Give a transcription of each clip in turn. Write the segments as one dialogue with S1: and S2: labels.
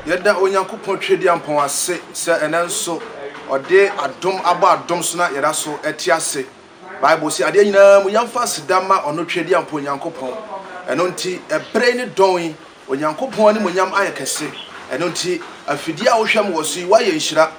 S1: yɛda onyankopɔn twɛdiampɔn ase sɛ ɛnɛ nso ɔde adom abɔ adom so na yɛda so ɛte ase bible sɛ adeɛ nyinaa mu yɛmfa aseda ma ɔno twɛdiampɔn onyankopɔn ɛno nti ɛberɛ ne dɔn Onyankopɔn animuonyam ayɛ kɛse. Ɛno nti, afidie a wohwɛ me wɔ so yi, woayɛ nhyira.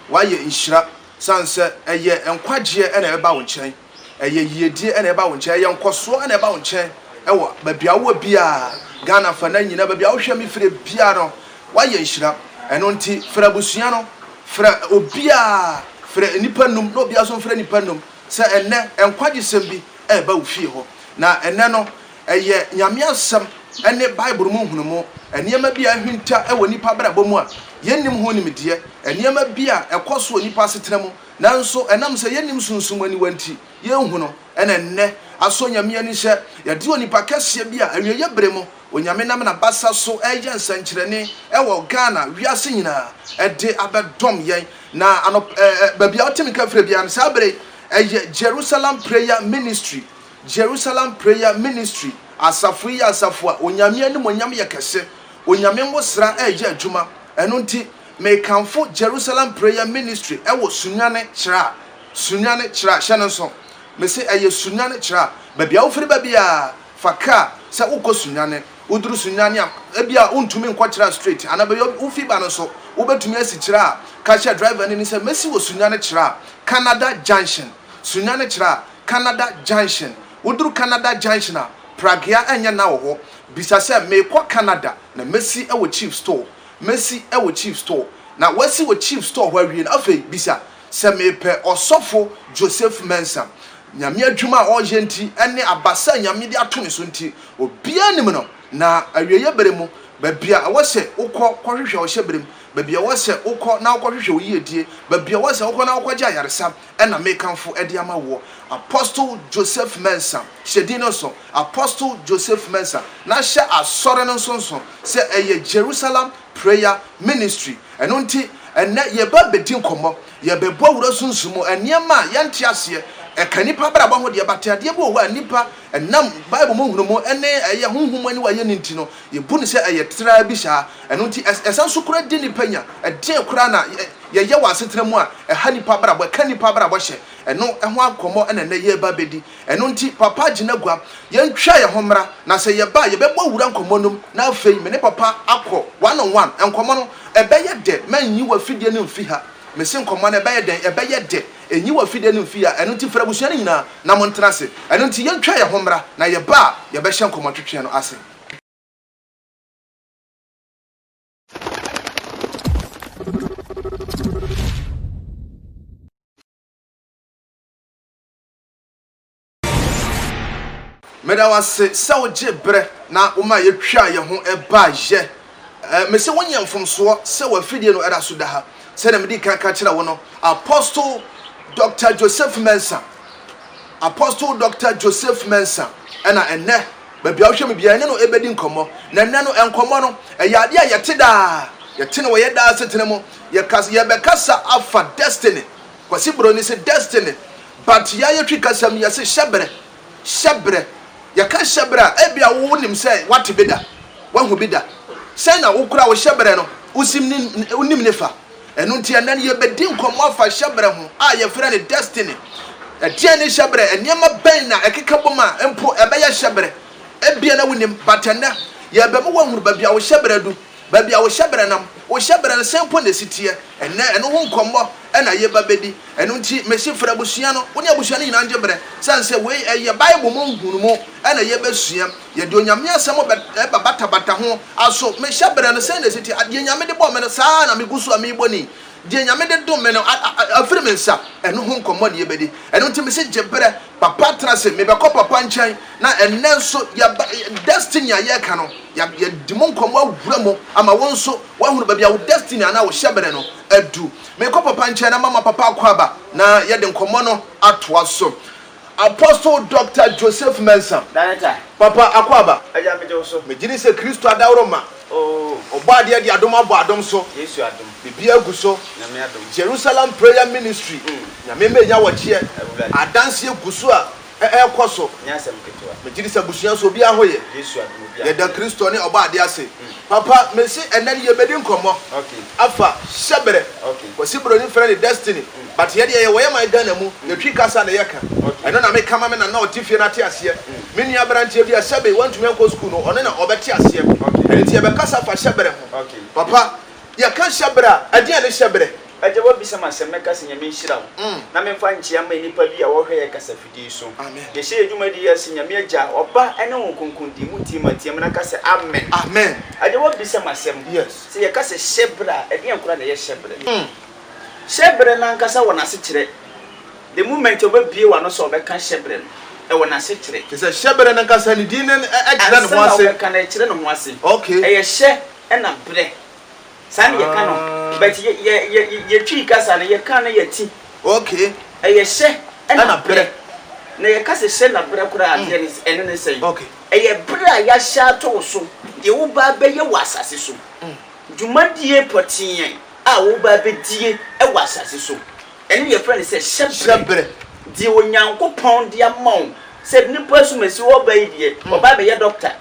S1: Woayɛ nhyira sane sɛ ɛyɛ nkwagyeɛ na ɛba wo nkyɛn. Ɛyɛ yiedie na ɛba wo nkyɛn. Ɛyɛ nkɔsoɔ na ɛba wo nkyɛn wɔ baabi a wowɔ biara, Ghana afanan nyinaa, baabi a wohwɛ me firi biara no, woayɛ nhyira. Ɛno nti, frɛ abusua no, frɛ obiara, frɛ nnipa nnum na obiara nso mfrɛ nnipa nnum sɛ ɛnnɛ, nkwagyesɛm bi reba wo fie hɔ. Na ɛnnɛ no, ɛyɛ Nyame Asɛm ne Bible mu nhunumu, nneɛma bi a ahinta wɔ nnipa abrabɔ mu a yɛnnim ho nimdeɛ, nneɛma bi a ɛkɔ so wɔ nnipa asetena mu nanso ɛnam sɛ yɛnnim sunsum aniwa nti yɛnhu no na ɛnnɛ asɔ Nyame ani sɛ yɛde onipa kɛseɛ bi a awieɛ berɛ mu Onyame nam n'abasa so reyɛ nsɛnkyerɛnne wɔ Ghana wiase nyinaa de abɛdom yɛn na anɔpa baabi a wote me ka frɛ biara no saa berɛ yi ɛyɛ Jerusalem Prayer Ministry Jerusalem Prayer Ministry, Asafo yi yɛ asafo a Onyame animuonyam yɛ kɛse. Onyame ngosra reyɛ adwuma. Ɛno nti, mekamfo Jerusalem Prayer Ministry wɔ Sunyani Chira. Sunyani Chira, hyɛ no nso. Mese ɛyɛ Sunyani Chira. Baabi a wofiri ba biara, fa kaa sɛ wokɔ Sunyani. Woduru Sunyani a, ebia wontumi nkɔ Chira straight, anaa baabi a wofi ba no nso, wobɛtumi asi Chira a, ka kyerɛ driver no ni sɛ, Mɛsi wɔ Sunyani Chira, Canada Junction. Sunyani Chira. Canada Junction. Woduru Canada Junction a, Pragea ɛnyɛ nã wɔ hɔ. Bisa sɛ, Merekɔ Canada, na mɛsi wɔ Chief Store? Mɛsi wɔ Chief Store. Na woasi wɔ Chief Store hɔ awie no, afei bisa sɛ, Merepɛ Ɔsɔfo Joseph Mensah. Nyame adwuma a ɔreyɛ nti ne abasa a Nyame de ato ne so nti, obiara nim no. Na awieeɛ berɛ mu, baabi a ɛwɔ sɛ wokɔ kɔhwehwɛ ɔhyɛberem, baabi a ɛwɔ sɛ wokɔ na wokɔhwehwɛ wo yiedie, baabi a ɛwɔ sɛ wokɔ na wokɔgye ayaresa, na mekamfo de ama woɔ, Apostle Joseph Mensah, hyɛ din no nso, Apostle Joseph Mensah, na hyɛ Asɔre no nso nso sɛ ɛyɛ Jerusalem Prayer Ministry. Ɛno nti, ɛnnɛ yɛreba abɛdi nkɔmmɔ, yɛrebɛbɔ awura sunsum mu, nneɛma a yɛnte aseɛ, ɛka nnipa abrabɔ ho deɛ, but adeɛ bi wɔ hɔ a nnipa, ɛnam Bible mu nhunumu ne ɛyɛ honhom mu aniwa yɛ no nti no, Yebu no sɛ ɛyɛ traa bi saa. Ɛno nti, ɛsan so kura de nnipa nya. Ɛdeɛn koraa na yɛyɛ wɔ asetena mu a ɛha nnipa abrabɔ, ɛka nnipa abrabɔ hyɛ? Ɛno ho nkɔmmɔ na nnɛ yɛreba abɛdi. Ɛno nti, Papa, gyina gua. Yɛntwa yɛn ho mmra, na sɛ yɛba a, yɛbɛbɔ wura nkɔmmɔ nom, na afei me ne Papa akɔ one on one. Nkɔmmɔ no, ɛbɛyɛ dɛ. Mannyi w'afidie no mfi ha. Mese nkɔmmɔ no, ɛbɛyɛ dɛn? Ɛbɛyɛ dɛ. Nyi w'afidie no mfi ha. Ɛno nti, frɛ abusua no nyinaa na montena ase. Ɛno nti, yɛntwa yɛn ho mmra, na yɛba a, yɛbɛhyɛ nkɔmmɔtwetweɛ no ase. Meda wo ase sɛ wogyee berɛ na womaa yɛtwaa yɛn ho baeɛ. Mese wonyɛ mfomsoɔ sɛ w'afidie no da so da ha. Sɛdeɛ medii kan ka kyerɛɛ wo no, Apostle Doctor Joseph Mensah, Apostle Doctor Joseph Mensah, ɛna ɛnnɛ Baabi a wohwɛ me biara, yɛne no bedi nkɔmmɔ. Na nnɛ no, nkɔmmɔ no, ɛyɛ ade a yɛte daa. Yɛte no wɔ yɛn daa asetena mu. Yɛkas, yɛbɛkasa afa destiny. Kwasi Broni se destiny. But yɛn a yetwi kasam yi, yɛse hyɛbrɛ. Hyɛbrɛ. Yɛka hyɛbrɛ a, ebia wo nim sɛ woate bi da. Woahu bi da. Sɛn na wo kura wo hyɛbrɛ no? Wosim ne, wonim ne fa? Ɛno nti, ɛnnɛ no yɛrebɛdi nkɔmmɔ afa hyɛberɛ ho a yɛfrɛ no destiny. Ɛdeɛn ne hyɛberɛ? Nneɛma bɛn na ɛkeka bom a mpo ɛbɛyɛ hyɛberɛ? Ebia na wonim, but ɛnnɛ yɛrebɛma woahunu baabi a wo hyɛberɛ adu, baabi a wo hyɛberɛ nam, wo hyɛberɛ no sɛn mpo na ɛsi teɛ. Ɛnnɛ ɛno ho nkɔmmɔ na yɛreba abɛdi. Ɛno nti, mese frɛ abusua no, wo ne abusua no nyinaa ngye berɛ, sane sɛ wei ɛyɛ Bible mu nhunumu na yɛrebɛsua. Yɛde Onyame asɛm bɛba batabata ho aso. Mehyɛ berɛ no sɛn na ɛsi teɛ? Deɛ Nyame de bɔɔ me no, saa ara na megu so a merebɔ ni. Deɛ Nyame de dom me no, afiri me nsa. Ɛno ho nkɔmmɔ na yɛbɛdi. Ɛno nti mese gye berɛ. Papa tena ase. Mebɛkɔ Papa nkyɛn. Na ɛnnɛ nso, yɛba, destiny a yɛreka no, yɛadi mu nkɔmmɔ awura mu ama wo nso woahunu baabi a wo destiny anaa wo hyɛberɛ no adu. Mekɔ Papa nkyɛn na mama Papa akwaaba na yɛde nkɔmmɔ no atoa so. Apostle Doctor Joseph Mensah, Papa
S2: Akwaaba, megyedi sɛ Kristo
S1: adaworoma, Ɔbɔadeɛ de adom abɔ adom so, biribiara
S2: gu so, Jerusalem Prayer
S1: Ministry, Nyame mma ɛnya wɔkyeɛ, adanseɛ gu so a ɛrekɔ so,
S2: megyedi sɛ abusua nso
S1: obiara ho ye, yɛda
S2: Kristo ne
S1: Ɔbɔadeɛ ase, Papa mese ɛnnɛ no yɛbɛdi nkɔmmɔ afa
S2: Hyɛberɛ,
S1: Kwasi Broni
S2: frɛ no
S1: Destiny, But yɛ deɛ yɛwɔ yɛ man Ghana mu, yɛ Twi kasa na yɛ ka. Ɛno na me ka ma me nana a ɔte fie no ate aseɛ. Me nua abranteɛ bi a sɛbe wantumi ankɔ school no, ɔno na ɔbɛte aseɛ. Ɛno nti yɛbɛkasa afa hyɛbrɛ ho. Papa,
S2: yɛ
S1: ka hyɛbrɛ a, ɛdeɛn ne hyɛbrɛ? Agya, woabisa me asɛm,
S2: mɛka sɛ Nyame nhyira wo na memfa nkyea mma nnipa bi a wɔhwɛ yɛ kasafidie yi so. Yɛhyɛ yɛ dwumadie yi ase Nyame Agya, Ɔba, ne Honhom Kronkron din mu team a, team na ka sɛ Amen. Agya,
S1: woabisa me
S2: asɛm sɛ yɛka sɛ
S1: hyɛbrɛ
S2: a, ɛdeɛn koraa na ɛyɛ hyɛbrɛ? Hyɛbere no ankasa wɔ n'asekyerɛ. The moment a ɔbɛbue w'ano sɛ ɔbɛka hyɛbere no, ɛwɔ n'asekyerɛ. Te sɛ hyɛbere no ankasa,
S1: ne din no kyerɛ ne ho ase. Ansa na ɔbɛka no, ɛkyerɛ ne ho ase.
S2: Okay. Ɛyɛ hyɛ ɛna berɛ. Saa na yɛka no. Ah. But yɛ, yɛ, yɛ, yɛtwii kasa no, yɛkaa no yɛ ti. Okay.
S1: Ɛyɛ hyɛ ɛna
S2: berɛ. Ɛna berɛ.
S1: Na yɛka sɛ
S2: hyɛ na berɛ koraa a, deɛ ne, ɛne ne sɛn? Okay. Ɛyɛ berɛ
S1: a
S2: yɛahyɛ ato wo so, deɛ woba abɛyɛ wɔ asase so. Dwumadie pɔtee. a wɔreba abedie wɔ asase so. Ɛno na yɛfrɛ no sɛ hyɛberɛ. Deɛ Onyankopɔn de ama wo sɛ nnipa asumasi wɔreba yi deɛ, wɔba abɛyɛ doctor.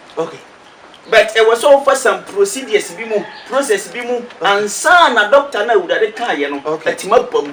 S1: But ɛwɔ
S2: sɛ wofa some procedures bi mu, process bi mu ansa na doctor no a Awurade kaeɛ no atumi aba mu.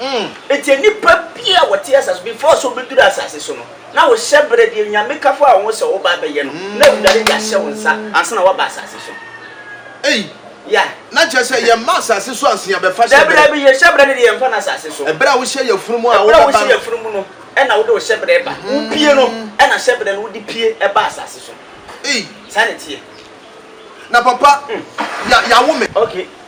S2: Mm, enti nnipa bi a wɔte asase so, before sɛ wobɛduru asase so no, na wo hyɛberɛ deɛ Nyame ka faa wo ho sɛ woba abɛyɛ no, na Awurade de ahyɛ wo nsa ansa na woaba asase so. Ei, Yeah. na kyerɛ sɛ
S1: yɛmma asase so ansa yɛabɛfa Daabi, hyɛberɛ. daabi, yɛn hyɛberɛ no deɛ
S2: yɛmfa no asase so. Ɛberɛ a wohyɛ yafunumu a Ɛberɛ
S1: a wobɛba wohyɛ no. yafunumu no,
S2: ɛna wode wo hyɛberɛ ba. Wopie no, ɛna hyɛberɛ no wode pie ba asase so. Ei. Saa na ɛteɛ.
S1: Na papa, ya, yawo me. Okay,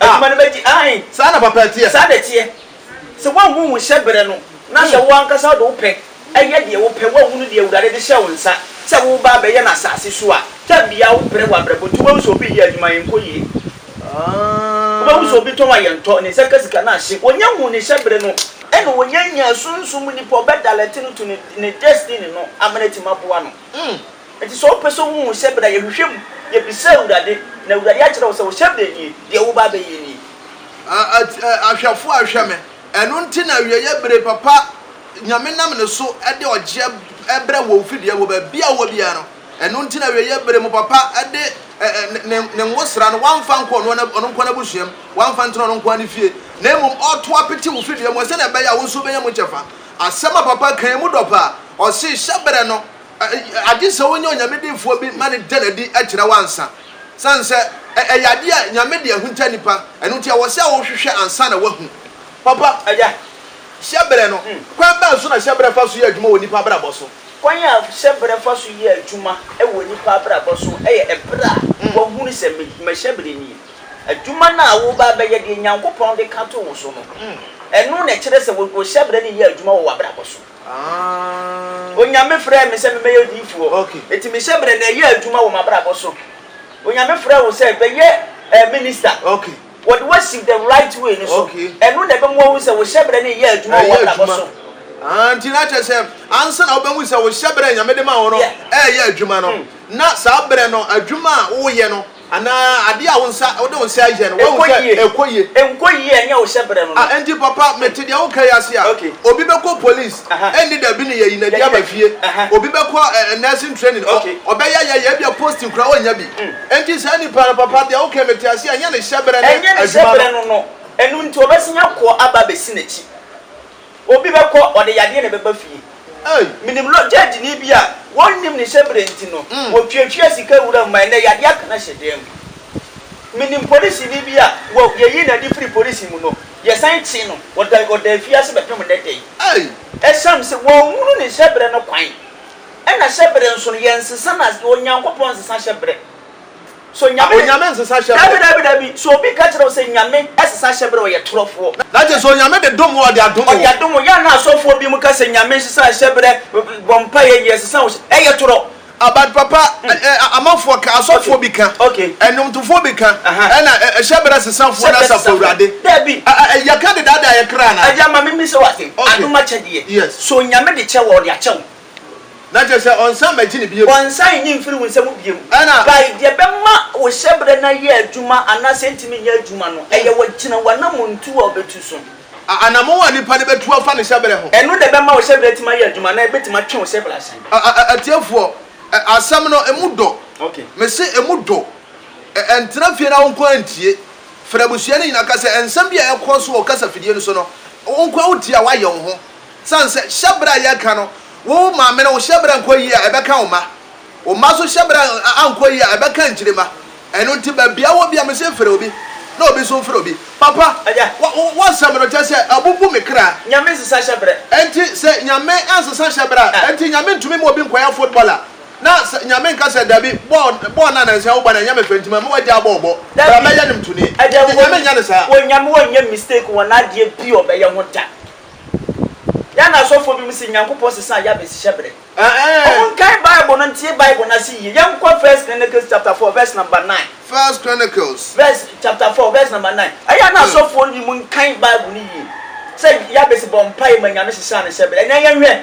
S2: Ah! Adwuma no bɛgye, aane. Saa na papa teɛ. Saa
S1: na ɛteɛ.
S2: Sɛ woanhunu wo hyɛberɛ no, na sɛ wo ankasa wode wo pɛ yɛ deɛ wopɛ, woanhunu deɛ Awurade de hyɛɛ wo nsa sɛ woreba abɛyɛ no asase so a, da biara wobrɛ w'abrabɔ nti, wobɛhu sɛ obi yɛ adwuma a ɛnkɔ yie. Wobɛhu sɛ Ah! obi tɔn a yɛntɔ, ne nsa ka sika no ahye. Ɔnya huu ne hyɛberɛ no, ɛna ɔnya nyaa sunsum mu nipa a ɔbɛdalɛte no to ne ne destiny no ama no atumi aboa no. Enti sɛ wopɛ sɛ wuhu sɛ bere a yɛhwehwɛ mu, yebisa Awurade, na Awurade akyerɛ wo sɛ, 'Wo hyɛbrɛ nie, deɛ woreba abɛyɛ nie.
S1: Ahwɛfoɔ a ɛhwɛ me. Ɛno nti na awieeɛ bere papa Nyame nam ne so de ɔgyeɛ brɛ wɔn firi deɛ wɔ baabi a wɔwɔ biara no. Ɛno nti na awieeɛ bere mo papa de ne nwosra no, wamfa nkɔ ɔno ɔno nko ara n'abusua mu, wamfa ntena ɔno nko ara ne fie, na mmom ɔreto apete wo firi deɛ mu hɔ sɛdeɛ ɛbɛyɛ a wo nso wobɛnya mu kyɛfa. Asɛm a papa kae mu dɔ paa. Ɔse hyɛbrɛ no. agye sɛ wonya Onyame defoɔ bi ma no da no adi kyerɛ wo ansa. Sane sɛ ɛyɛ adeɛ a Nyame de ahunta nnipa, ɛno nti ɛwɔ sɛ wohwehwɛ ansa na woahu. Papa, ɛyɛ
S2: hyɛberɛ no,
S1: kwan bɛn so na hyɛberɛ fa so yɛ adwuma wɔ nnipa abrabɔ so? Kwan a hyɛberɛ
S2: fa so yɛ adwuma wɔ nnipa abrabɔ so yɛ ɛberɛ a woahunu sɛ mahyɛberɛ nie. Adwuma no a woreba abɛyɛ, deɛ Nyankopɔn de ka to wo so no, ɛno na ɛkyerɛ sɛ wo hyɛberɛ no reyɛ adwuma wɔ w'abrabɔ so. Onyame frɛɛ me sɛ memmɛyɛ odiyifoɔ, enti me hyɛberɛ na ɛyɛɛ adwuma wɔ m'abrabɔ so. Onyame frɛɛ wo sɛ bɛyɛ minista,
S1: wɔde wo asi the
S2: right way no so, ɛno na ɛbɛmoa woahu
S1: sɛ wo
S2: hyɛberɛ no reyɛ adwuma wɔ w'abrabɔ so. Nti na
S1: kyerɛ sɛ ansa na wobɛhu sɛ wo hyɛberɛ a Nyame de maa wo no reyɛ adwuma no, na saa berɛ no adwuma a woreyɛ no Anaa adeɛ a wo nsa, wode wo nsa yɛ no, woahu sɛ ɛkɔ yie. Ɛnkɔ yie a, ɛnyɛ wo
S2: hyɛberɛ no no. Ah, enti papa, mete deɛ
S1: woka yi ase a, obi bɛkɔ police, ɛnni da bi ne yɛyi no adi aba fie. Obi bɛkɔ nursing training, ɔbɛyɛ ayɛ yɛ, ebia posting koraa ɔnnya bi. Enti saa nipa no, papa, deɛ woka yi, mete aseɛ, ɛnyɛ ne hyɛberɛ ne adwuma no. Ɛnyɛ ne hyɛberɛ no no.
S2: Ɛno nti, ɔbɛsan akɔ aba abɛsi n'akyi. Obi bɛkɔ, ɔde yadeɛ na ɛbɛba fie. Menim lɔgyadini bi a wɔnnim ne hyɛberɛ nti no, wɔtuatua sika wuram ma ɛnnɛ yadeɛ aka no ahyɛ dan mu. Menim polisini bi a wɔ yɛyi no adi firi polisi mu no, yɛsan kye no, ɔda ɔda afiase bɛpem nnɛ da yi. Ɛsiane sɛ wɔnhunu ne hyɛberɛ no kwan, ɛna hyɛberɛ nso no, yɛnsesa no as Onyankopɔn nsesa hyɛberɛ. So Nyame. Onyame nsesa hyɛ berɛ. Dabi dabi
S1: dabi, so obi ka kyerɛ
S2: wo sɛ Nyame sesa hyɛ berɛ, ɔyɛ torɔfoɔ. Na kyerɛ sɛ Onyame de
S1: dom wo, ɔde adom wo. Ɔde adom wo, yɛ a na asɔfoɔ
S2: binom ka sɛ Nyame nsesa hyɛ berɛ, bɔ mpaeɛ yɛ, sesa wo hyɛ, ɛyɛ torɔ. Ah but papa,
S1: ɛ ɛ amanfoɔ ka, asɔfoɔ bi ka, ɛnwomtofoɔ bi ka, ɛna ɛ hyɛ berɛ sesafoɔ ne Asafo Awurade. Dabi. Ɛ ɛ yɛ
S2: ka dedaadaa
S1: yɛ kra anaa? Agya ma me mmisa wo ase,
S2: adom akyɛdeɛ, so Nyame de kyɛ wo a, ɔde akyɛ wo? Na kyerɛ
S1: sɛ ɔnsan mmɛgye no bio. Ɔnsan nnye mfiri wo nsam
S2: bio. Ɛna. Kae deɛ ɛbɛma wo hyɛberɛ no ayɛ adwuma anaasɛ ɛntumi nyɛ adwuma no, ɛyɛ wɔ gyina w'anammɔntuo a wobɛtu so. A Anammɔn a
S1: nipa no bɛtu afa ne hyɛberɛ ho. Ɛno na ɛbɛma wo hyɛberɛ atumi
S2: ayɛ adwuma anaa ɛbɛtumi atwe wo hyɛberɛ asan. A a a Atiefoɔ,
S1: ɛ asɛm no ɛmu dɔ. Okay. Mese ɛmu dɔ. Ɛ ɛntena fie na wo nko ara ntie. Frɛ abusua no nyinaa, ka sɛ, nsɛm bi a ɛrekɔ so wɔ kasa fidie no so no, wo nko ara wotie a woayɛ wo ho. Esiane sɛ hyɛbrɛ a yɛka no, wo maame no wo hyɛbrɛ nkɔ yie a, ɛbɛka wo mma. Wo mma nso hyɛbrɛ ankɔ yie a, ɛbɛka nkyirimma. Ɛno nti, baabi a wɔ biara, mese mfrɛ obi, na obi nso mfrɛ obi. Papa, w'asɛm no, kyerɛ sɛ, abubu me kra. Nyame nsesa hyɛbrɛ.
S2: Enti sɛ Nyame
S1: ansesa hyɛbrɛ a, enti Nyame ntumi mma obi nkɔyɛ footballer? Na sɛ Nyame nka sɛ, Dabi, bɔɔl, bɔɔl no a nansa yi wobɔ no, ɛnyɛ me fɛ, nti mame w'agyaa bɔɔl bɔ. Bra bɛyɛ no mtoni. Enti Nyame nyɛ no saa. Onyame ɔnyɛ
S2: mistake wɔ n'adeɛ bi a ɔbɛyɛ ho da. Ghana asɔfoɔ binom se Nyankopɔn sesaa Yabes hyɛberɛ. Ɔmo nkae Bible no ntie Bible no ase yie. Yɛnkɔ First Chronicles chapter four verse number nine. First Chronicles.
S1: Verse chapter four verse
S2: number nine. Ɛyɛ a na asɔfoɔ no binom nkae Bible no yie. Sɛ Yabes bɔɔ mpaeɛ ma Nyame sesaa ne hyɛberɛ. Ɛnɛ yɛnhwɛ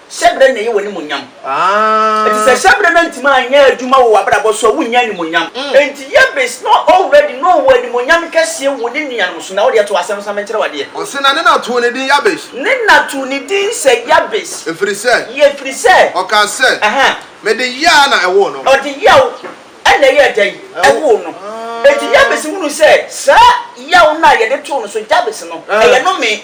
S2: Hyɛbrɛ na ɛyɛ w'animuonyam. Enti sɛ hyɛbrɛ no antumi anyɛ adwuma wɔ w'abrabɔ so a, wonnya animuonyam. Enti Yebes na already na ɔwɔ animuonyam kɛseɛ wɔ ne nuanom so. Na wo deɛ to asɛm no sa menkyerɛ wo adeɛ. Ɔse na ne na too ne
S1: din Yabes. Ne na too ne
S2: din sɛ Yabes. Ɛfiri sɛ. Yɛ ɛfiri sɛ. Ɔkaa sɛ. Aha.
S1: Mede yea na ɛwoo no. Ɔde yaw na
S2: ɛyɛɛ dɛn? Ɛwoo no. Enti Yabes hunuu sɛ saa yaw no a yɛde too no so Jabes no, ɛyɛ nomee.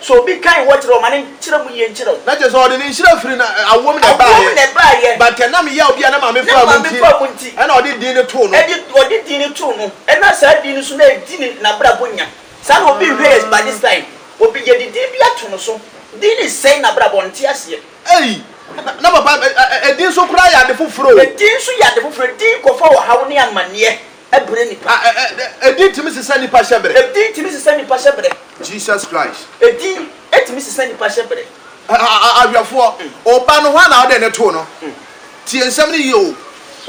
S2: So obi kan hɔ kyerɛ wo ma ne nkyerɛ mu yie nkyerɛ wo. Na kyerɛ sɛ ɔde ne nhyira
S1: firi na awoɔ mu na ɛbaeɛ. Awoɔ mu na ɛbaeɛ. But ɛnam yea obi a ne maame faa mu nti. Ne maame faa mu nti. Ɛna ɔde din no too no. Ɛde ɔde din no too
S2: no. Ɛna saa din no so na ɛdi ne n'abrabɔ nya. Saa na obi nhwɛ yɛ by this time. Obi yɛde din bi ato no so. Din no sɛe n'abrabɔ ɔnte aseɛ. Ei! Na na
S1: papa, ɛdin nso koraa yɛ ade foforɔ o. Ɛdin nso yɛ ade foforɔ.
S2: Ɛdin kɔfa ɔhaw ne amaneɛ. brɛ nnipa. Ɛ ɛ ɛ Edin tumi
S1: sesa nnipa hyɛbrɛ. Edin tumi sesa nnipa hyɛbrɛ. Jesus Christ. Edin tumi
S2: sesa nnipa hyɛbrɛ. Ɛ ɛ ɛ Ahwɛfoɔ,
S1: Oba no, hwan na wode no too no? Tie nsɛm no yie o.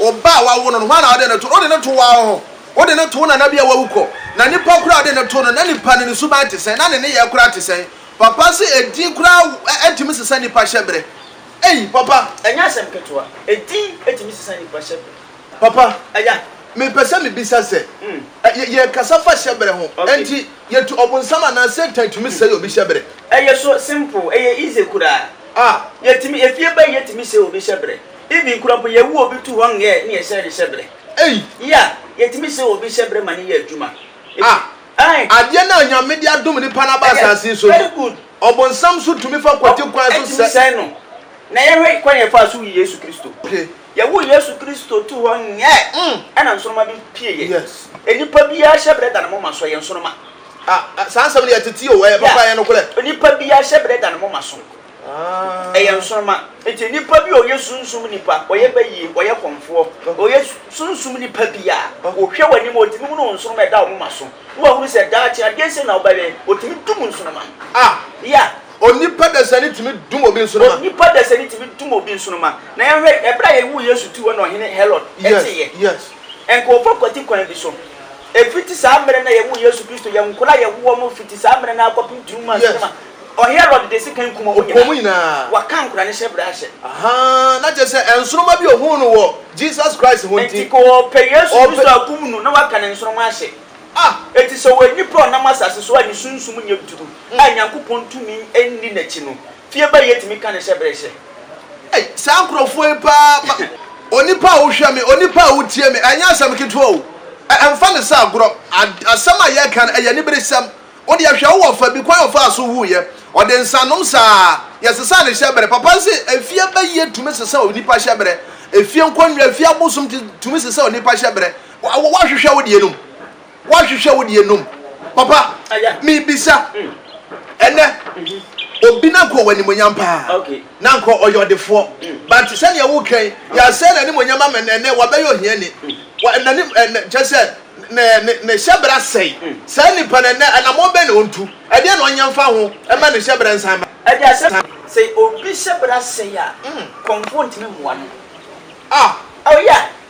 S1: Oba a wawo no no, hwan na wode no too no? Wode no too w'awo hɔ. Wode no too nana bi a wawu kɔ. Na nipa koraa a wode no too no, na nipa no ne suban te sɛn? Na ne nneyɛɛ koraa te sɛn? Papa se edin koraa ɛ ɛ tumi sesa nnipa hyɛbrɛ. Ei, papa! Ɛnyɛ asɛm
S2: ketewa. Edin tumi sesa nnipa hyɛbrɛ. Papa,
S1: mepɛ
S2: sɛ mibisa
S1: sɛ, yɛrekasa fa hyɛbere ho, enti yɛatu Ɔbonsam anaa Satan tumi sɛe obi hyɛbere? Ɛyɛ so
S2: simple, ɛyɛ easy koraa. Ah. Yɛtumi, efie bɛn yɛtumi sɛe obi hyɛbere. Even kura mpo yɛwo obi to hɔ nyɛ ne yɛsɛe ne hyɛbere. Ei. Yeah,
S1: yɛtumi
S2: sɛe obi hyɛbere ma no yɛ adwuma. Ah. Ae.
S1: Adeɛ no a Nyame de adom nnipa no aba asase yi so no. Very good.
S2: Ɔbonsam nso
S1: tumi fa kwati kwan so sɛe. Ɛtumi sɛe no.
S2: Na yɛhwɛ kwan a yɛfaa so wui Yesu Kristo. Okay. Yɛwoo
S1: Yesu
S2: Kristo too hɔ nyɛɛ ɛna nsoroma bi pie yɛn. Yes. Enipa
S1: biara hyɛ
S2: brɛ da ne moma so, ɛyɛ nsoroma. Ah, saa nsɛm
S1: no yɛ tete o, ɛyɛ papa, ɛyɛ nokorɛ. Yeah, onipa biara hyɛ brɛ
S2: da ne moma so, Ah. ɛyɛ nsoroma. Nti nipa bi a ɔyɛ sunsum nipa, ɔyɛ bayie, ɔyɛ kɔmfoɔ, ɔyɛ sunsum nipa biara, ɔhwɛ w'anim a, ɔtumi hunu wo nsoroma a ɛda wo moma so, na wahunu sɛ daakye adeɛ sei na wobɛyɛ, ɔtumi dum nsoroma no. Ah. Yeah. Onipa
S1: dasani tumi dum obi nsoroma. Onipa dasani tumi dum
S2: obi nsoroma. Na yɛnhwɛ ɛberɛ a yɛwoo Yesu too hɔ na Ɔhene Herod teeɛ. Ɛnka
S1: ɔfa kwati
S2: kwan bi so. Ɛfiti saa mmerɛ no a yɛwoo Yesu Kristo, yɛn nkwadaa a yɛwo wɔn no fiti saa mmerɛ no ara kɔpem tunu mu ansoroma. Ɔherod de sekan kum wɔn nyinaa. Waka
S1: nkwadaa no hyɛbrɛ
S2: ahyɛ. Na kyerɛ
S1: sɛ nsoroma bi ɔhuu no wɔ Jesus Christ ho nti. Nti ka ɔpɛ Yesu
S2: Kristo akum no na waka ne nsoroma ahyɛ. A Enti sɛ ɔyɛ nipa a ɔnam asase so a ne sunsum nyɛ duru a Nyankopɔn tumi nni n'akyi no, fie bɛn yɛtumi ka no sɛ bere hyɛ? Ei, saa nkurɔfoɔ yi
S1: paa ma. Onipa a wohwɛ me, onipa a wotie me, ɛnyɛ asɛm ketewa o. Ɛ, mfa no sɛ agorɔ. A, asɛm a yɛreka no, ɛyɛ aniberesɛm. Wo deɛ hwɛ, wowɔ ɔfa bi, kwan a ɔfaa so wuiɛ, ɔde nsanom saa. Yɛsesa ne hyɛberɛ. Papa se, Efie bɛyɛ tumi sesa onipa hyɛberɛ. Efie nkonnwa, efie abosom tumi sesa onipa hyɛberɛ. Wa wa wahwehwɛ wo deɛ nom. Wahwehwɛ wo deɛ nom. Papa, mebisa ɛnɛ obi na nka ɔwɔ animonyam paa na nka ɔyɛ ɔdefoɔ but sɛdeɛ wokan yɛasɛe n'animonyam ama no ɛnɛ wabɛyɛ ohiani wa nani ɛnɛ kyɛ sɛ ne ne ne hyɛbrɛ asɛe saa nipa no ɛnɛ anamɔ bɛn na ɔntu ɛdeɛ na ɔnyɛ mfa ho ɛma ne hyɛbrɛ nsan ma ɛde asɛ sɛ
S2: obi hyɛbrɛ asɛe a kɔmfoɔ ntumi mmoa no ah oh yeah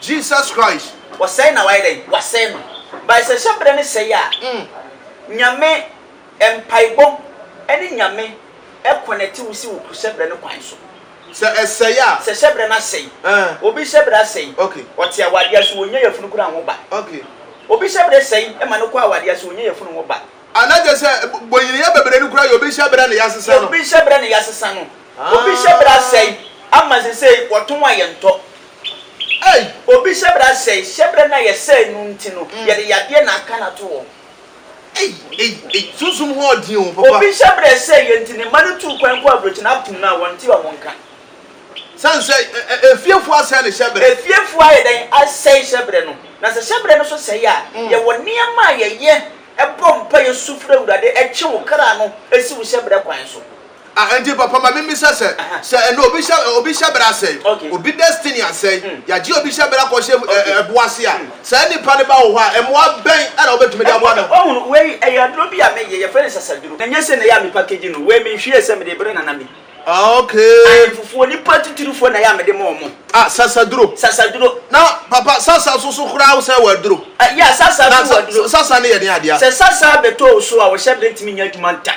S2: Jesus Christ.
S1: Wɔsɛe na wayɛ dɛn?
S2: Wasɛe no. By sɛ hyɛ berɛ no sɛe a, Nyame mpaebɔ ne Nyame connect wo si wo hyɛ berɛ no kwan so. Sɛ ɛsɛe
S1: a. Sɛ hyɛ berɛ no asɛe.
S2: Obi hyɛ berɛ asɛe. Ɔte awadeɛ
S1: ase wɔnnya
S2: yafunu koraa nwo ba. Obi
S1: hyɛ berɛ
S2: sɛe ma no kɔ awadeɛ ase wɔnnya yafunu nwo ba. Ana kyerɛ sɛ
S1: bonyiniyɛ bebree no koraa yɛ obi hyɛ berɛ ne yasesa no. Yɛ obi hyɛ berɛ ne yasesa
S2: no. Obi hyɛbrɛ asɛe ama sesei wɔtɔn a yɛntɔ. Ei! Obi hyɛbrɛ asɛe, hyɛbrɛ no a yɛsɛe no nti no yɛde yadeɛ na aka no ato hɔ. Ei! Ei! Ei!
S1: Sunsum ho ɔden o, papa. Obi hyɛbrɛ sɛe yɛ
S2: nti ne mma no tuu kwan kɔɔ aburokyi na akum no a wɔnte wɔn nka. Sane
S1: sɛ efiefo asɛe ne hyɛbrɛ. Efiefo ayɛ dɛn
S2: asɛe hyɛbrɛ no? Na sɛ hyɛbrɛ no nso sɛe a, yɛwɔ nneɛma a yɛyɛ bɔ mpaeɛ su frɛ Awurade twe wo kra no si wo hyɛbrɛ kwan so. Ah, enti papa ma
S1: mimmisa sɛ, sɛ ɛnnɛ obi hyɛ ɛ, obi hyɛ bra asɛe, obi destiny asɛe, yɛagye obi hyɛ bra kɔ hyɛ ɛ, ɛ, ɛbo ase a, saa nnipa no ba wo hɔ a, mmoa bɛn na wobɛtumi de aboa no? Wahu no, wei ɛyɛ aduro
S2: bi a meyɛ, yɛfrɛ no sasaduro, na ɛnyɛ sɛ na ɛyɛ a me package no, wei menhwiee sɛ mede rebrɛ Nana May. Ah, okay.
S1: Ahemfofoɔ, nnipa
S2: atitirifoɔ na ɛyɛ a mede ma wɔn. Ah, sasaduro. Sasaduro. Na papa,
S1: sasa nso so koraa wo sɛ wɔ aduro? Ah, yeah, sasa nso
S2: wɔ aduro. Na sa, sasa no yɛ den adeɛ a? Sɛ
S1: sasa bɛtɔ wo
S2: so a, wo hyɛ bra ntumi nyɛ adwuma ntɛm.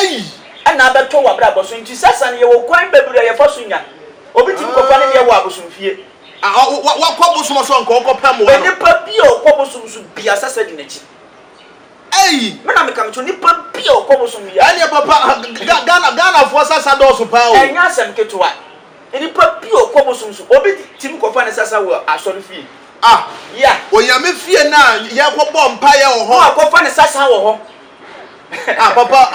S2: Eyi na abɛtɔ w'abrabɔ so. Nti Satan yɛ wɔ kwan bebree a yɛfa so nya. Obi tumi kɔfa ne deɛ wɔ abosomfie. Wakɔ
S1: bosom so anka ɔnkɔpɛ mmoa no. Onipa bi a ɔkɔ bosom
S2: so biasa sɛ di n'akyi. Ei! Me na meka mekyerɛ wo, nipa bi a ɔkɔ bosom biasa. Ɛneɛ papa,
S1: Ghana, Ghanafoɔ sasa dɔɔso paa o. Ɛnyɛ asɛm ketewa.
S2: Nipa bi a ɔkɔ bosom so, obi tumi kɔfa ne sasa wɔ asɔre fie. Ah! Yeah.
S1: Onyame fie no a yɛkɔbɔ mpaeɛ wɔ hɔ. Na wakɔfa ne sasa wɔ hɔ.
S2: Ah papa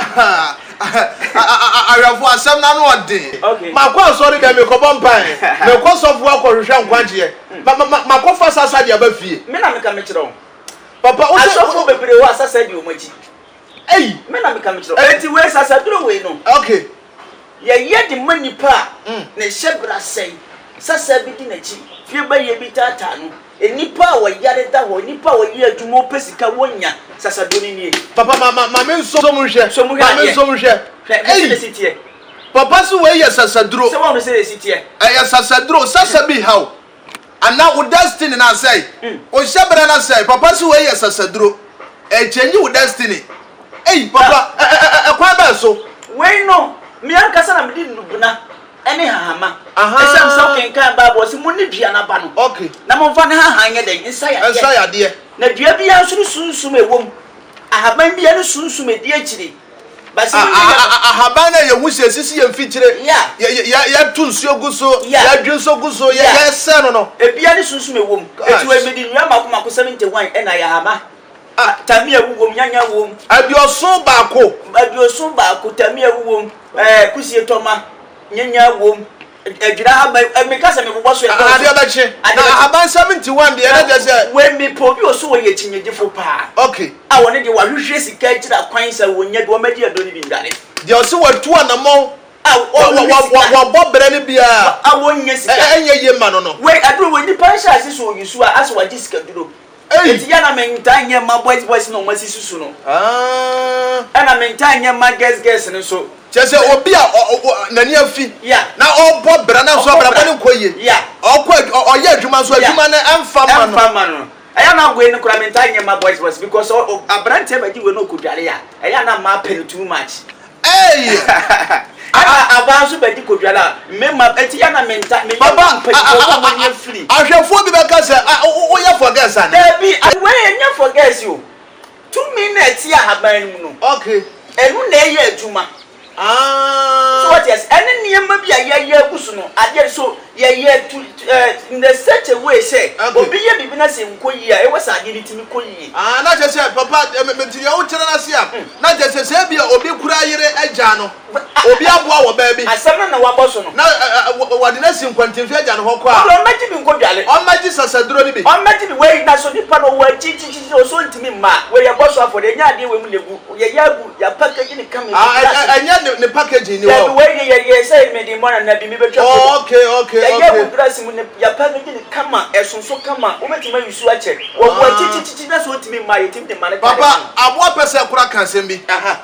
S1: awɛfo asɛm no ano ɔden. Makɔ asɔre dɛm mekɔbɔ mpae, mekɔ sɔfo hɔ akɔhwehwɛ nkwagyeɛ, makɔfa sasa de aba fie. Me na meka mekyerɛ wo.
S2: Papa wosɛ.
S1: Asɔfo bebree hɔ a sasa
S2: di wɔn akyi. Ei. Me
S1: na meka mekyerɛ
S2: wo. Enti wei sasa duro wei no. Okay.
S1: Yɛyɛ de
S2: ma nipa a ne hyɛbrɛ asɛe, sasa bi di n'akyi, fie bayie bi taataa no, Nnipa a wɔyare da hɔ, nnipa a wɔyɛ adwuma, wɔpɛ sika, wɔnnya. Sasado no nie. Papa ma ma ma me
S1: nso mu nhwɛ. Nso mu hwɛ Ma me adeɛ. nso mu hwɛ. Hwɛ, hwɛ Ei! sɛdeɛ ɛsi teɛ.
S2: Papa so wei
S1: yɛ sasaduro. Sɛ woahunu sɛdeɛ ɛsi teɛ.
S2: Ɛyɛ sasaduro.
S1: Sasa bi ha wo. Anaa wo destiny no asɛe. Wo hyɛbrɛ no asɛe. Papa so wei yɛ sasaduro. Ɛrechange wo destiny. Ei! Papa, ɛ ɛ ɛ ɛkwan bɛn so? Wei no,
S2: me ankasa na mede nnubena. ne hahama. Esiane sɛ wokenkan Bible a wɔse monni dua no aba no, na momfa ne
S1: hahan
S2: nyɛ dɛn? Nsa yadeɛ. Na dua
S1: biara nso
S2: ne sunsum a ɛwɔ mu. Ahaban biara ne sunsum a ɛdi akyire. Ahaban
S1: no a yɛhu sɛ ɛsisi yɛn mfikyire, yɛto nsuo gu so, yɛdwe nso gu so, yɛsɛ no no. Ebiara ne sunsum a ɛwɔ
S2: mu. Enti wɔde nnua mmaako mmaako, 71, na ayɛ ahama. A, Tamia wu wom, Nyanya wom. Aduoson baako.
S1: Aduoson baako, Tamia wu wom,
S2: ɛɛ, Kusie tɔ ma, Nyanya wom, Adwira ahaban, ɛ, meka sɛ mebobɔ so ɛdɔɔso. A, Adeɛ bɛkye. Adeɛ Na
S1: bɛkye. ahaban seventy one deɛ na kyerɛ sɛ. Wei, mepɛ obi ɔso
S2: ɔyɛ kyinnyegyefo paa. Ok. A, ɔno deɛ
S1: wahwehwɛ
S2: sika akyira kwan sɛ ɔnya bi, ɔmɛgye aduro no bi ndware. Deɛ ɔse watu
S1: anamɔn. A, Wa, wa, ɔhwehwɛ wa, sika. wabɔ brɛ no biaa. Wa, a, ɔnnya Ɛ, sika.
S2: ɛnyɛ yie mma no no. Wei,
S1: aduro wei, nipa
S2: nhyɛase sɛ ɔyi su a, asɛ wagye sikaduro. Ei! Enti yɛ na mentaa nyɛ mma boys boys na wɔn asi susu no. Aah. Ɛna mentaa nyɛ mma girls girls no nso. Kyerɛ sɛ obi a ɔ
S1: ɔ n'ani afi. Yeah. Na ɔbɔ bra nanso Ɔbɔ abrabɔ bra. no nkɔ yie. Yeah. Ɔkɔ adw ɔ ɔyɛ adwuma nso Yeah. adwuma no ɛmfa mma no. Ɛmfa mma no. Ɛyɛ na wei no koraa
S2: mentaa nyɛ mma boys boys because ɔ ɔ abranteɛ bɛgye wei na ɔkɔdware a, ɛyɛ a na mmaa pɛ no too much. Eii Ana abaa nso bɛdi kodwa na me ma eti ya na menta me yɛ wɔn mpanyinfoɔ sɛ wɔn
S1: nyɛ firi.
S2: Ahwɛfoɔ bi bɛka sɛ
S1: a wo wo yɛ forgets ana. Dabi wei ɛnyɛ
S2: forgets o tumi na ɛte ahaban no mu no Okay. ɛno na
S1: ɛyɛ
S2: adwuma so Ah. wate aseɛ ɛne nneɛma bi a yɛayɛ agu so no adeɛ so. Yɛyɛ to in a such a way sɛ obi yɛ biribi na sɛ ɛnkɔ yie a ɛwɔ sɛ adeɛ no tumi kɔ yie. Ah na kyerɛ sɛ papa
S1: mete deɛ wokyerɛ no ase a na kyerɛ sɛ sɛ ebia obi kura yere agyaa no obi aboa wɔ baabi Asɛm no na wabɔ so no.
S2: na
S1: wɔde
S2: no asi
S1: nkwantemfi agya no hɔ kɔ a Ɔde ɔmmɛgye bi nkɔdware.
S2: ɔmmɛgye sasaduro no
S1: bi. Ɔmmɛgye bi wei na so
S2: nipa no ɔwɔ akyi tititi ɔsɛ ɔntumi mma a wei yɛbɔ so afɔdeɛ ɛnyɛ adeɛ wei mu na ɛgu. Ɛnyɛ ne ne
S1: packaging ni hɔ.
S2: Okay, okay, okay. Papa, aboa pɛ
S1: sɛ kora ka asɛm bi.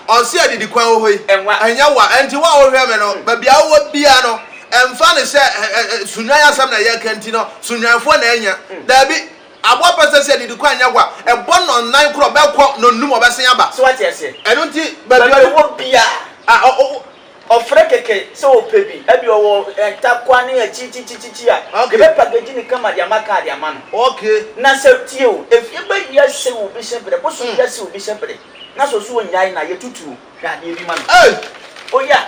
S1: Ɔnse adidi kwan wɔ hɔ yi. Ɛnyɛ wa. Ɛnti wo a wohwɛ me no, baabi a wowɔ bia no, ɛmfa no sɛ sunwan asɛm na yɛka nti no, sunwanfoɔ na anya. Daabi. Aboa pa sɛ sɛ didi kwan nyɛ hɔ a ɛbɔ nɔnan korɔ bɛkɔ nɔnum ɔbɛsen aba. So wate aseɛ? Ɛno nti
S2: baabi a
S1: ɛwɔ biaa
S2: a ɔ ɔfrɛ kɛkɛ sɛ ɔpɛ bi, ɛbi ɔwɔ ntakwa ne akyirikyirikyirikyiri a Okay. yɛbɛ package ne kama de ama kaa de ama no. Okay. Na sɛ
S1: tie o,
S2: efie bɛ wia se obi se bere, bosom wia se obi se bere, na sɛ ɔso ɔnyae no a yɛtutuo hwɛ adeɛ bi ma no. Ei! Oya!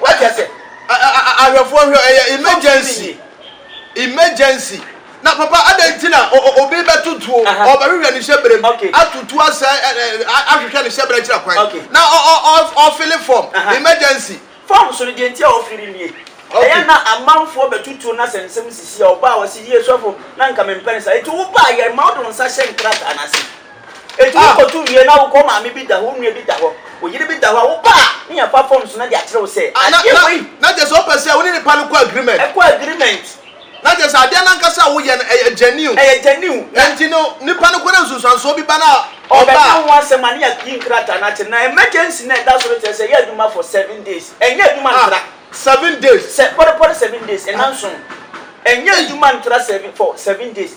S2: Wate ase? Ahwɛfoɔ hwɛ,
S1: ɛyɛ emergency. Emergency. Na papa adɛn nti na obi bɛto tuo, ɔbɛhwehwɛ ne hyɛbrɛ mu, ato tuo asɛe, ahwehwɛ ne hyɛbrɛ akyira kwan, na ɔfele fɔm, emergency. Fɔm so no, deɛ
S2: nti a ɔfele nie. Ɛyɛ na amanfoɔ bɛto tuo na sɛ nsɛm sisi a, ɔba a ɔse, yie sɔfo, na nka mempɛ no saa, enti woba a, yɛma wode wo nsa hyɛ nkrataa no ase. Enti wokotu wie na wokɔ maame bi da hɔ, wo nua bi da hɔ, wo yere bi da hɔ a, woba a na yɛafa forms no de akyerɛ wo sɛ Ah, na, adeɛ na, wei, na kyerɛ sɛ
S1: wopɛ sɛ wo ne nipa no kɔ agreement. ɛkɔ agreement, Na kyerɛ sɛ adeɛ no ankasa a woyɛ no, ɛyɛ genuine. ɛyɛ genuine, na Enti no, nipa no kɔ na nsunsuansoɔ bi ba no a, ɔba ɔbɛka a. ho asɛm
S2: a, na yɛayi nkrataa no akyerɛ no. Na emergency no a ɛda so no kyerɛ sɛ yɛ adwuma for seven days, ɛnyɛ adwuma Ah, ntra. seven days.
S1: Sɛ, pɔrepɔre seven days,
S2: Ɛ, nnanson. Ɛnyɛ ei. adwuma ntra seven, for seven days.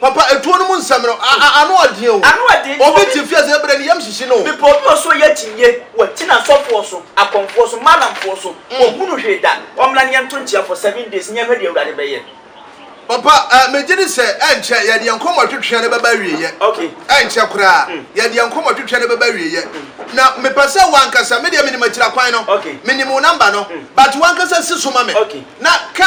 S1: Papa etuo no mu nsɛm no, a a ano ɔden o. Ano ɔden nti obi. Obi te fiase ebrɛ ne yam hyehye no. Bepɔ bi wɔ so ɔyɛ akyinnye
S2: wɔ akyina asɔfoɔ so, akɔmfoɔ so, malamfoɔ so. Wɔn hunu hwee da. Wɔn mmra ne yɛn nto nkyea for seven days ne yɛn hwɛ deɛ Awurade bɛyɛ. Papa
S1: eh, me gye di sɛ ɛnkyɛ yɛde yɛn nkɔmmɔ twetwea no bɛba awieyɛ. Okay. Ɛnkyɛ
S2: koraa
S1: yɛde yɛn nkɔmmɔ twetwea no bɛba awieyɛ. Na me pɛ sɛ wo ankasa, me deɛ menim akyira kwan no, Okay. menim wo number no, but wo ankasa si so ma me. Okay. Na ka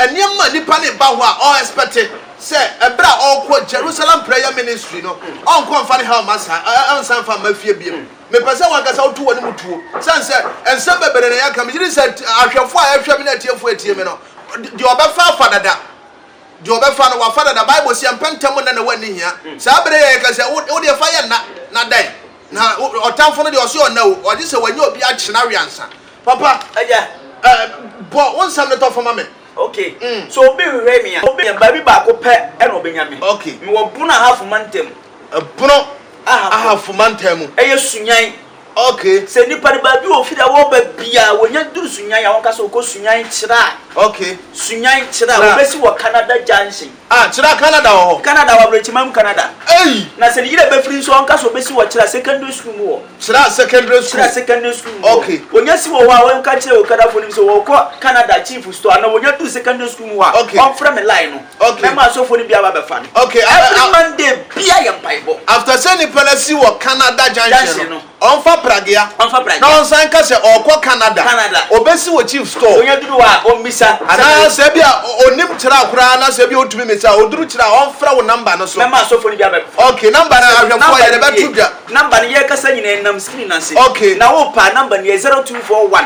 S1: nneɛma a nipa no reba hɔ a ɔ expect sɛ ɛberɛ a ɔrekɔ Jerusalem prayer ministry no ɔnkɔ mfa ne haw mma saa ɛ ɔnsan mfa mma fie biom. Mepɛ sɛ w'ankasa woto w'anim tuo sɛne sɛ nsɛm bebree na yɛka. Megye di sɛ ahwɛfoɔ a ɛrehwɛ me ne atiefoɔ a ɛtie me no deɛ ɔbɛfa afa dada. Deɛ ɔbɛfa no wafa dada. Bible se ɛmpɛ ntɛm nna na w'anni hia. Saa berɛ yi a yɛka sɛ wo wodeɛ fa yɛ nna na dɛn? Na ɔtamfo no deɛ ɔse ɔnna o, ɔgye sɛ wanya obi akye no awe ansa. Papa, ɛyɛ, eh,
S2: bɔ
S1: wo nsɛm no tɔfo ma me. Ok, sɛ
S2: obi hwehwɛ me a, obi nya baabi baako pɛ na ɔbɛnya me. Ok. Mewɔ Bono Ahafo Mantam mu. Bono
S1: Ahafo Mantam mu. Ɛyɛ Sunyani.
S2: Ok. Sɛ
S1: nipa no baabi a
S2: ofi da wɔba biara, wɔnya duru Sunyani a, wɔka sɛ ɔkɔ Sunyani Kyira. Ok. Sunyani
S1: Kyira,
S2: wɔbɛsi wɔ Canada Junction. Ah kyerɛ a Canada
S1: wɔ hɔ. Canada wɔ Abrɛkyimam
S2: Canada. Ei! Na sɛ ne yere bɛfiri nso ɔnka sɛ ɔbɛsi wɔ Kyira Secondary School mu wɔ. Kyira Secondary
S1: School. Kyira Secondary School mu wɔ. Ok. Ɔnya si wɔ hɔ a ɔnka
S2: nkyerɛ Okada foɔ no mu sɛ ɔrekɔ Canada Chief Store anaa ɔnya duru Secondary School mu hɔ a Ok. ɔmfrɛ me line no. Ok. Mɛma asɔfoɔ no bi
S1: aba abɛfa
S2: no. Ok, a, a, Every a. Monday bia yɛ mpaebɔ. After sɛ nipa no
S1: asi wɔ Canada junction no. Junction no. Ɔmfa pragea. Ɔmfa pragea. Na ɔnsan nka sɛ ɔrekɔ Canada. Canada. Ɔbɛsi wɔ Chief store. Onya duru hɔ a, ɔmmisa.
S2: Anaa sɛ ebia
S1: ɔnnim kyerɛ a koraa na sɛ ebia ɔtumi misa a, ɔduru kyerɛ a, ɔmfrɛ wo number no so. Mɛma asɔfoɔ no bi abɛ.
S2: Okay, number no
S1: ahwɛfoɔ yɛde bɛto dwa. Number no yɛrekasa
S2: nyinaa ɛnam screen no ase. Okay. Na wopa a, number
S1: no yɛ
S2: zero two four one.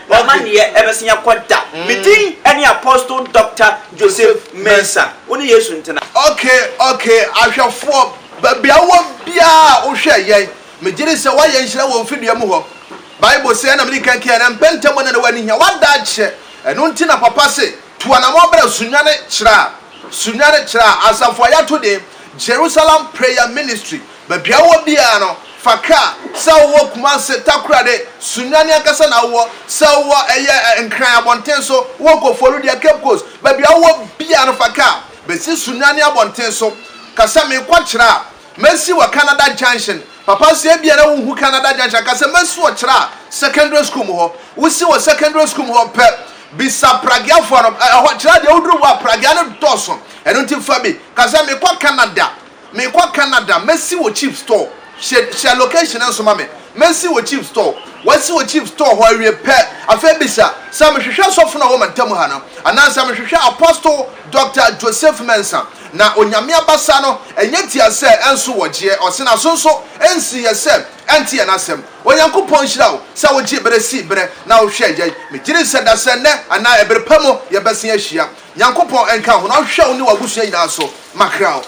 S2: W'amanneɛ bɛsen akɔ da. Me din ne Apostle Doctor Joseph Mensah. Wo ne Yesu ntena. Ok ok
S1: ahwɛfoɔ baabi a wowɔ biara a wohwɛ yɛn megye di sɛ woayɛ nhyira wɔ mfidie mu hɔ Bible se ɛna medi kan kaeɛ no ɛmpɛ ntɛm na na w'ani hia w'adaakyeɛ ɛno nti na papa se Tu anamɔn brɛ Sunyani Kyerɛ a Sunyani Kyerɛ a Asafo a yɛato din Jerusalem Prayer Ministry Baabi a wowɔ biara no, fa kaa, sɛ wowɔ Kumasi, Takoradi, Sunyani ankasa na wowɔ, sɛ wowɔ ɛyɛ Nkran abɔnten so, wowɔ Koforidua, Cape Coast, baabi a wowɔ biara no fa kaa bɛsi Sunyani abɔnten so ka sɛ merekɔ kyerɛ a. Masi wɔ Canada Junction. Papa sɛ ebia na wonhu Canada Junction anka sɛ masi wɔ Kyerɛ a secondary school mu hɔ. Wosi wɔ secondary school mu hɔ pɛ, bisa Pragueafoɔ no, ɛ, ɛhɔ, Kyerɛ a deɛ woduru hɔ a Praguea no dɔɔso, ɛno nti fa bi. Ka sɛ, Mekɔ Canada, mekɔ Canada, masi wɔ cheap store. Hyɛ, hyɛ location no nso ma me. Masi wɔ cheap store. Woasi wɔ cheap store hɔ awie pɛ, afei bisa sɛ, Mehwehwɛ sɔfo no a ɔwɔ Mantamu ha no? Anaasɛ, Mehwehwɛ Apostle Doctor Joseph Mensah? Na Onyame abasa no nnyɛ tia sɛ nso wɔgyeɛ, ɔse n'aso nso nsiiɛ sɛ ɛnte yɛn asɛm. Onyankopɔn nhyira wo sɛ wogyee berɛ sii berɛ na wohwɛɛ yɛn. Megyedi sɛ da sɛ nnɛ anaa ɛbere pa mu yɛbɛsen ahyia. Nyankopɔn nka wo na ɔnhwɛ wo ne w'abusua nyinaa so. Makra wo.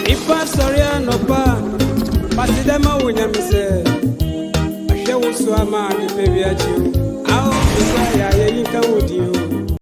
S1: Nipa
S3: sɔre anɔpa pase dɛ ma wo nyame sɛ ahwɛ wo so ama ade pɛ wiakyi o ao bisa yɛ ayɛ yi nka wo di o.